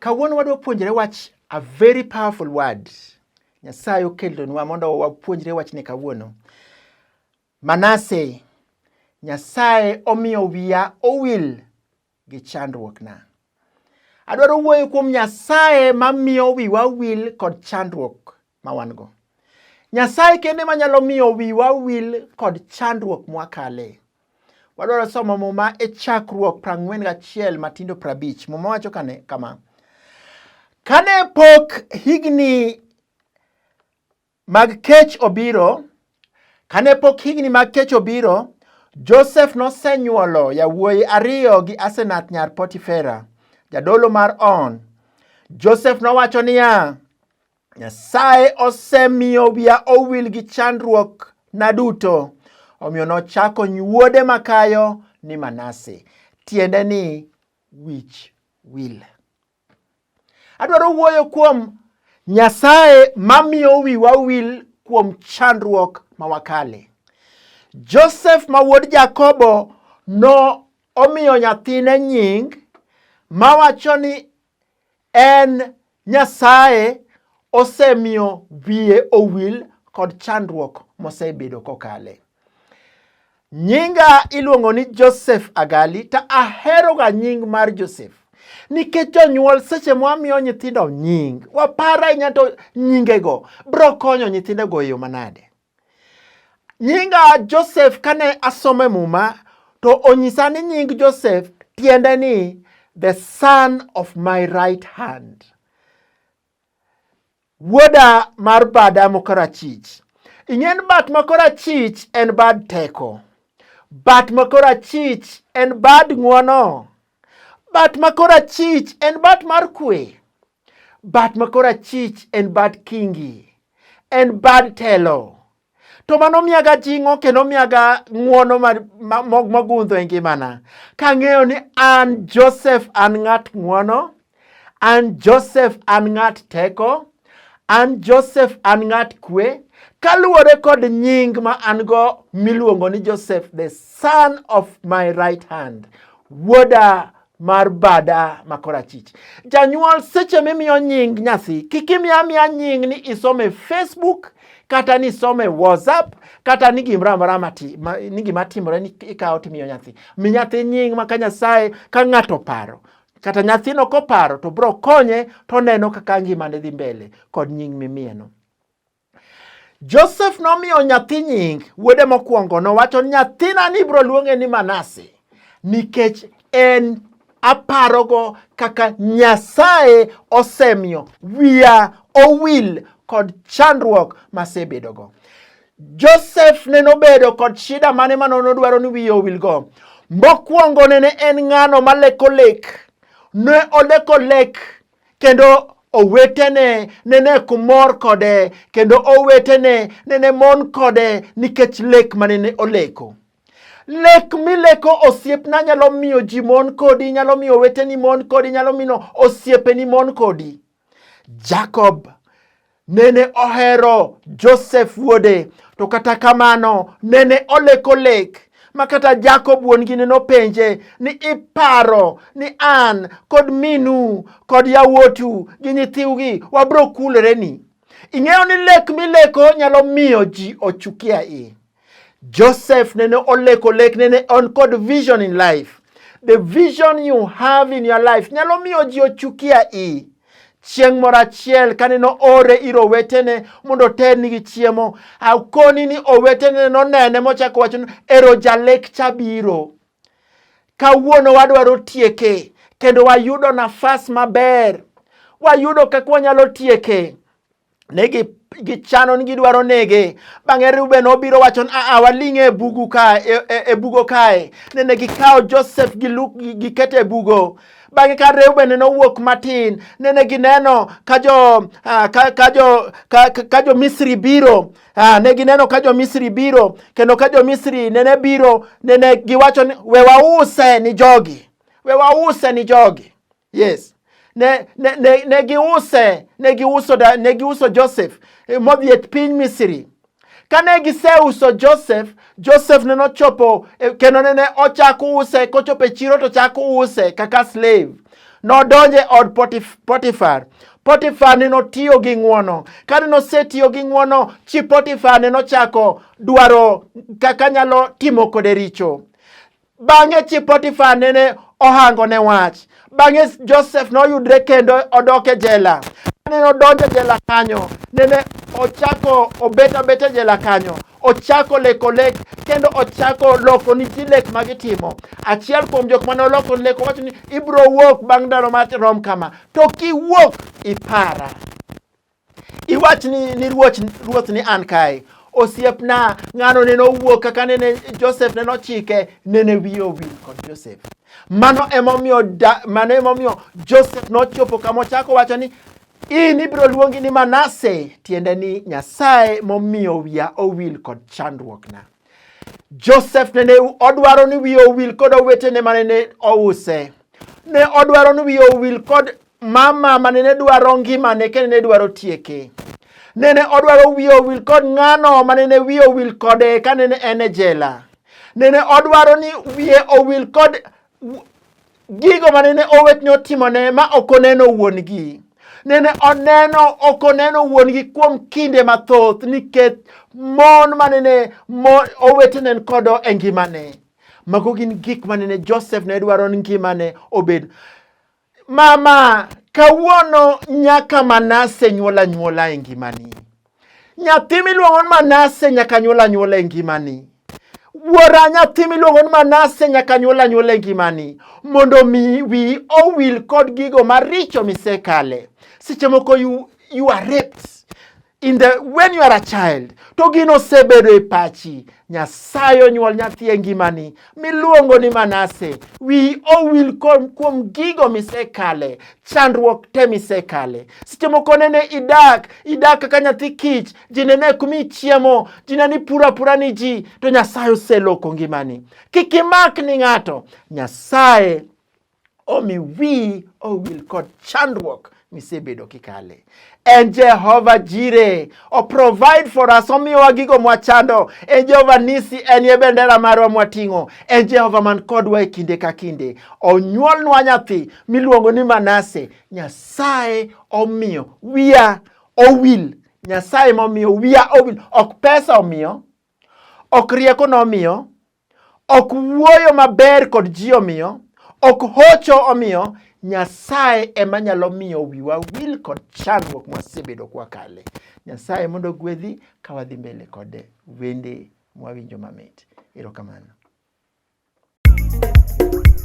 Kawuono wadwa puonjre wach a very powerful word. Nyasaye okelonwa mondo wapuonjre wachni kawuono. Manase, Nyasaye omiyo wiya owil gi chandruokna. Adwaro wuoyo kuom Nyasaye ma miyo wiwa wil kod chandruok ma wan-go. Nyasaye kende ma nyalo miyo wiwa wil kod chandruok mwakale. Wadwaro somo muma e chakruok prang'wen gachiel matindo prabich. Muma wacho kane kama. Kane pok higni mag kech obiro. Kane pok higni mag kech obiro, Josef nosenyuolo yawuoyi ariyo gi Asenath nyar Potifera, jadolo mar On. Josef nowacho niya, Nyasaye osemiyo wiya owil gi chandruok na duto. Omiyo nochako nyuode makayo ni Manase, tiende ni wich wil. Adwaro wuoyo kuom Nyasaye mamiyo wiwa wil kuom chandruok ma wakale. Josef ma wuod Jakobo no omiyo nyathine nying mawacho ni en Nyasaye osemiyo wiye owil kod chandruok mosebedo kokale. Nyinga iluongo ni Joseph Agali to aheroga nying mar Joseph nikech jonyuol seche mwamiyo nyithindo nying waparo ahinya to nyingego biro konyo nyithindego e yo manade. Nyinga Joseph kane asomo e Muma to onyisa ni nying Joseph tiende ni the son of my right hand. Wuoda mar bada makorachich. Ing'eni bat makorachich en bad teko. Bat makorachich en bad ng'wono. Bat makorachich en bat mar kwe. Bat makorachich en bad kingi. En bad telo. to mano miyaga jing'o kendo miyaga ng'uono mogundho e ngimana kang'eyo ni an Joseph an ng'at ng'uono an Joseph an ng'at teko an Joseph an ng'at kwe kaluwore kod nying ma an go miluongo ni Joseph the son of my right hand wuoda mar bada ma korachich. Janyuol seche mimiyo nying nyathi, kik imiya amiya nying ni isome Facebook kata ni isome WhatsApp kata ni gimoro amora mati ma, ni gima timore ni ikawo timiyo nyathi. Mi nyathi nying ma ka Nyasaye ka ng'ato paro kata nyathino koparo to bro konye to neno kaka ngimane dhi mbele kod nying mimiyeno. Josef nomiyo nyathi nying wuode mokwongo nowacho nyathina ni ibiro luonge ni Manase nikech en aparogo kaka Nyasaye osemiyo wiya owil kod chandruok masebedogo. Josef ne nobedo kod shida mane mano nodwaro ni wiye owilgo. Mokwongo nene en ng'ano maleko lek, ne oleko lek Kendo owetene nene kumor kode kendo owetene nene mon kode nikech lek ma nene oleko. Lek mileko osiepna nyalo miyo ji mon kodi, nyalo miyo oweteni mon kodi, nyalo miyo osiepeni mon kodi. Jacob Nene ohero Josef wuode, to kata kamano nene oleko lek ma kata Jakob wuon-gi ne nopenje ni iparo ni an kod minu kod yawuotu gi nyithiwgi wabiro kuloreni. Ing'eyo ni lek mileko nyalo miyo ji ochuki ahinya. Joseph nene oleko lek nene on kod vision in life. The vision you have in your life nyalo miyo ji ochukia i chieng' moro achiel kane no ore ir owetene mondo oternigi chiemo akoni ni owetene nonene mochako wacho ni ero jalek cha biro kawuono wadwaro tieke kendo wayudo nafas maber wayudo kaka wanyalo tieke ne gichano ni gidwaro nege. Bang'e Reuben obiro wacho ni aa, waling' e bugu kae, e, e, e bugo kae. Nene gikawo Joseph gi Luke giketo e bugo. Bang'e ka Reuben ne owuok matin, nene gineno ka jo ah, ka, ka jo ka, ka, ka jo Misri biro ah, ne gineno ka jo Misri biro kendo ka jo Misri nene biro nene giwacho ni we wause ni jogi, we wause ni jogi. Yes. Ne, ne, ne, ne giuse, ne giuso, da, ne giuso Joseph eh, modhi e piny Misri. Kane giseuso Joseph, Joseph ne nochopo eh, kendo ne ochako use, kochopo e chiro to chako use kaka slave. Nodonje e od Potif, Potiphar. Potiphar ne notiyo gi ng'wono. Kane nosetiyo gi ng'wono, chi Potiphar ne nochako dwaro kaka nyalo timo kode richo. Bang'e chi Potifa nene ohango ne wach. Bang'e Josef noyudre kendo odok e jela. Kane nodonjo e jela kanyo, nene ochako obet abet e jela kanyo. Ochako leko lek kendo ochako loko ni ji lek ma gitimo. Achiel kuom jok ma noloko lek owacho ni ibiro wuok bang' ndalo ma rom kama. To kiwuok ipara. Iwach ni, ni ruoch, ruoth ni an kae. Osiepna, ng'ano nene owuok kaka nene Joseph nene ochike, nene wiye owil kod Joseph. Mano emomiyo, da, mano emomiyo Joseph nochopo kama ochako wacho ni in ibiro luongi ni Manase, tiende ni Nyasaye momiyo wiya owil kod chandruokna. Joseph nene odwaro ni wiye owil kod owetene ma nene ouse. Ne odwaro ni wiye owil kod mama ma nene dwaro ngimane kendo ne dwaro tieke nene odwaro wiye owil kod ng'ano ma nene wiye owil kode ka nene en e jela nene odwaro ni wiye owil kod gigo ma nene owetne otimone ma ok oneno wuon-gi nene oneno ok oneno wuon-gi kuom kinde mathoth nikech mon ma nene owetene kodo e ngimane mago gin gik ma nene joseph ne dwaro ni ngimane obed Mama, kawuono nyaka Manase nyuol anyuola e ngimani. Nyathi miluongo ni Manase nyaka nyuol anyuola e ngimani. Wuora nyathi miluongo ni Manase nyaka nyuol anyuola e ngimani mondo mi wi owil kod gigo maricho misekale. Seche moko you, you are raped. in the when you are a child to gino osebedo e pachi nyasaye onyuol nyathi e ngimani miluongo ni manase wi owil kuom gigo misekale chandruok te misekale seche moko nene idak idak kaka nyathi kich ji nene kumi chiemo ji neni pura apura ni ji to nyasaye oseloko ngimani kik imak ni ng'ato nyasaye omi wiyi owil kod chandruok misebedo kikale. En Jehova Jire, o provide for us, omiyowa gigo mwachando. En Jehova Nisi, en ye bendera marwa mwating'o. En Jehova man kodwa e kinde ka kinde. Onyuolnwa nyathi miluongo ni Manase. Nyasaye omiyo wiya owil. Nyasaye momiyo wiya owil. Ok pesa omiyo, ok rieko nomiyo, Ok wuoyo maber kod ji omiyo, ok hocho omiyo, Nyasaye ema nyalo miyo wiwa wil kod chandruok mwasebedo kwakale. Nyasaye mondo ogwedhi ka wadhi mbele kod wende mwawinjo mamit. Erokamano.